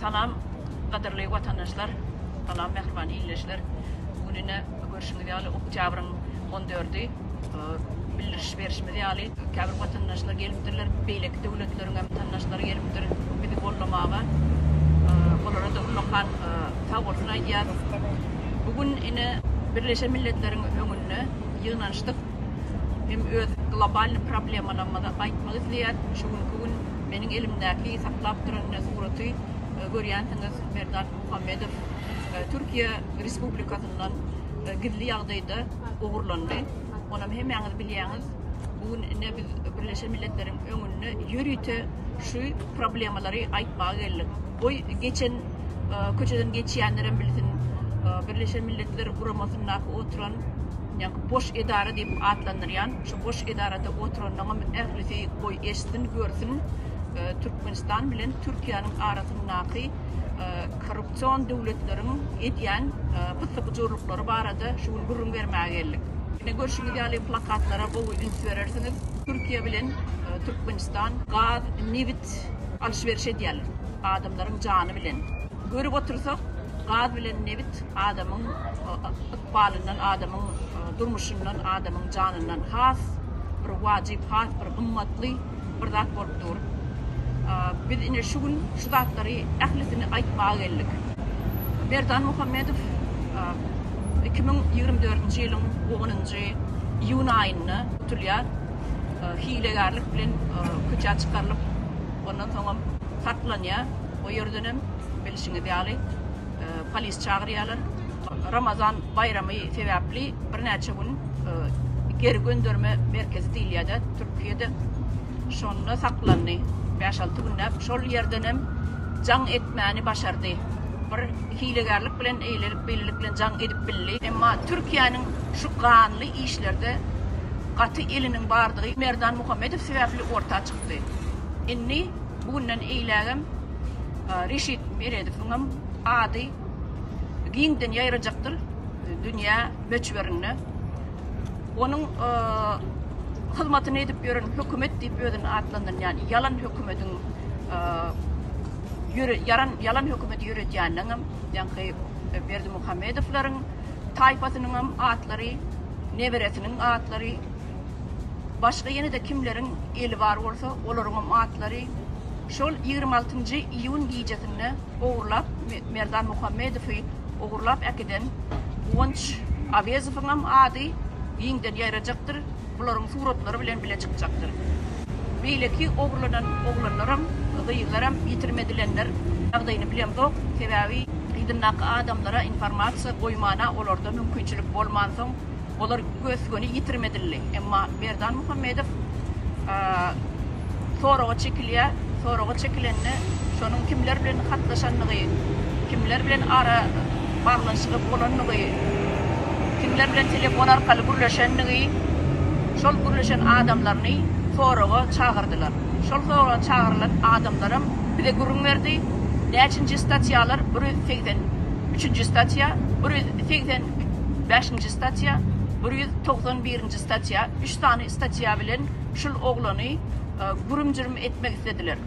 Salam, gadyrly watandaşlar, salam, mähriban ildeşler. Gününe görşüňiz ýaly, oktýabryň 14-i. Bildiriş berşimiz ýaly, käbir watandaşlar gelipdirler, beýleki döwletleriň hem tandaşlary gelipdir bizi goldamaga. Olara-da ullakan sag bolsun aýdýarys. Bu gün ine Birleşen Milletleriň öňünde ýygnanyşdyk. Hem öz globalnyý problemalarymyzy aýtmak isleýäris. Şu günki gün meniň elimdäki saklap duran ine suraty görýänsiňiz, Merdan Muhammedow Türkiýe Respublikasyndan gizli ýagdaýda, ogurlandy. Onam hemmäňiz bilýäňiz, bu gün ine biz Birleşen Milletleriň öňünde ýörite şu problemalary aýtmaga geldik. Goý geçen e, köçeden geçýänlerem bilsin, e, Birleşen Milletler guramasyndaky oturan ýa-da boş edara diýip atlandyrýan, şu boş edarada oturanyňam ählisi goý eşitsin, görsün, e, Türkmenistan bilen Türkiýäniň arasyndaky korrupsion döwletleriň edýän pyssy-pyjurlyklary barada şu gün gürrüň bermäge geldik. Ine, görşüňiz ýaly, plakatlara gowy üns berersiňiz. Türkiýe bilen Türkmenistan gaz, nebit alyş-beriş edýärler, adamlaryň jany bilen. Görüp otursak, gaz bilen nebit adamyň ykbalyndan, adamyň durmuşyndan, adamyň janyndan has bir wajyp, has bir gymmatly. bir zat bolup dur. Biz ine şu gün şu zatlary ählisini aýtmaga geldik. Merdan Muhammedow iki müň ýigrimi dördünji ýylyň onunjy iýun aýynda tutulýar. Hilegärlik bilen köçä çykarylyp, ondan soňam saklanýar. O ýerden hem bilşiňiz ýaly polis çagyrýarlar. Ramazan baýramy sebäpli birnäçe gün geri gönderme merkezi diýilýär-dä Türkiýede, şonda saklandy. Bäş-alty günläp şol ýerdenem jaň etmäni başardy. Bir hilegärlik bilen, eýlelik-beýlelik bilen jaň edip bildi. Emma Türkiýäniň şu ganly işlerde gaty eliniň bardygy Merdan Muhammedow sebäpli orta çykdy. Indi bu günden eýlägem Reşit Meredowyňam ady giňden ýaýrajakdyr dünýä möçberinde. Onuň hyzmatyny edip ýören hökümet diýip özüni atlandyrýan ýalan hökümetiň ýaran ýalan hökümeti ýöredýäninden hem ýaňky Berdi Muhammedowlaryň taýpasynyň hem atlary, neberesiniň atlary, başga ýene-de kimleriň eli bar bolsa, olaryň hem atlary şol ýigrimi altynjy iýun gijesinde ogurlap Merdan Muhammedowy ogurlap äkiden Guwanç Awezowyňam ady giňden ýaýrajakdyr, bularyň suratlary bilen bile çykjakdyr. Beýleki ogurlanan oglanlaram, gyzlaram ýitirim edilenler ýagdaýyny bilemzok, sebäbi yzyndaky adamlara informasiýa goýmana olarda mümkinçilik bolmansoň, Olar gös-göni ýitirmedildi. Emma Berdan Muhammedow soraga çekilýär. Soraga çekilende şonuň kimler bilen hatlaşandygy, kimler bilen ara baglanyşygy bolandygy, kimler bilen telefon arkaly gürleşendigi, şol gürleşen adamlaryny soraga çagyrdylar. Şol soraga çagyrylan adamlaram bize gürrüň berdi. Näçinji statýalar? Bir ýüz segsen üçünji statýa, bir ýüz segsen bäşinji statýa, bir ýüz togsan birinji statýa, üç sany statýa bilen şul oglany gürüm-jürüm etmek islediler.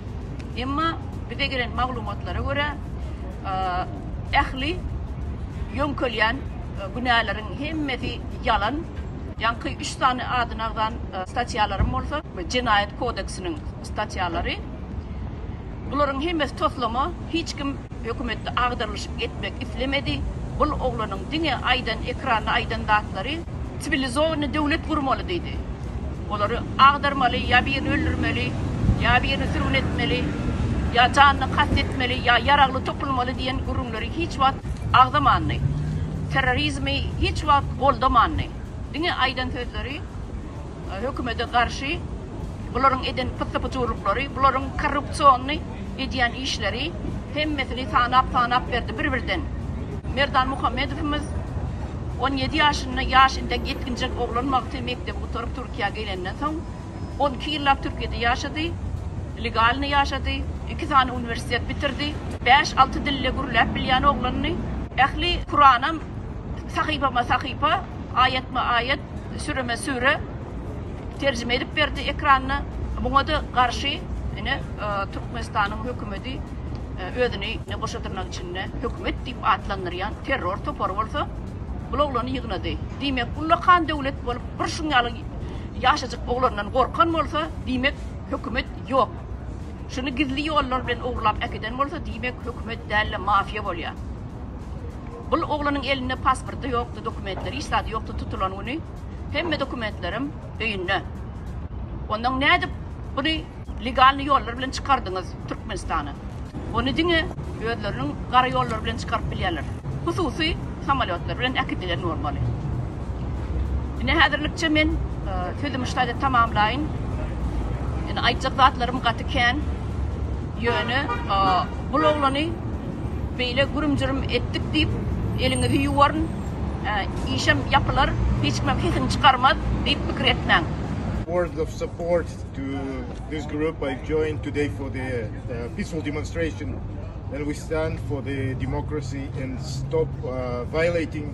Emma bize gelen maglumatlara görä, ähli ýöňkelýän günäleriň hemmesi ýalan. Ýaňky üç sany adynagzan statýalaryň bolsa, Jenaýat kodeksiniň statýalary. Bularyň hemmesi toslama, hiç kim hökümetde agdarylyşyk etmek islemedi, bul oglanyň diňe aýdan ekranda aýdan zatlary siwilizowanyny döwlet gurmaly diýdi. Olary agdarmaly, ýa birini öldürmeli, ýa birini sürgün etmeli, ýa janyna kast etmeli, ýa ýaragly topulmaly diýen gürrüňleri hiç wagt agzamandy. Terrorizmi hiç wagt goldamandy. Diňe aýdan sözleri. Hökümede garşy bularyň eden pyssy-pyjurlyklary, bularyň korrupsionny edýän işleri, hemmesini sanap-sanap berdi bir-birden. Merdan Muhammedowymyz on ýedi ýaşynda, ýaş entek ýetginjek oglan wagty mekdebi gutaryp Türkiýä gelenden soň, on iki ýyllap Türkiýede ýaşady, legalny ýaşady, iki sany uniwersitet bitirdi, bäş-alty dilde gürläp bilýän oglandy. Ähli Kuranam sahypama-sahypa, aýatma-aýat Süreme süre terjime edip berdi ekranda. Buňa-da garşy ine e, Türkmenistanyň hökümeti e, özüni ne goşa dyrnak içinde hökümet diýip atlandyrýan terror topary bolsa bu oglany ýygnady. Diýmek, ullakan döwlet bolup bir şuň ýaly ýaşajyk oglandan gorkan bolsa, diýmek hökümet ýok. Şuny gizli ýollar bilen ogurlap äkiden bolsa, diýmek hökümet däl-de mafiýa bolýar. Bul oglanyň elinde pasporty ýokdy dokumentleri hiç zady ýokdy tutulan güni hemme dokumentlerim öýünde ondan nädip buny legalny ýollar bilen çykardyňyz türkmenistana ony diňe özleriniň gara ýollary bilen çykaryp bilýärler hususy samolýotlar bilen äkidilen bolmaly ine häzirlikçe men sözümi ştaýda tamamlaýyn ine aýtjak zatlarym gaty kän ýöne bul oglany Beýle gürüm-jürüm etdik diýip, eliňizi ýuwaryn, işem ýapylar, hiç kimem sesini çykarmaz diýip pikir etmäň. Words of support to this group I've joined today for the peaceful demonstration and we stand for the democracy and stop violating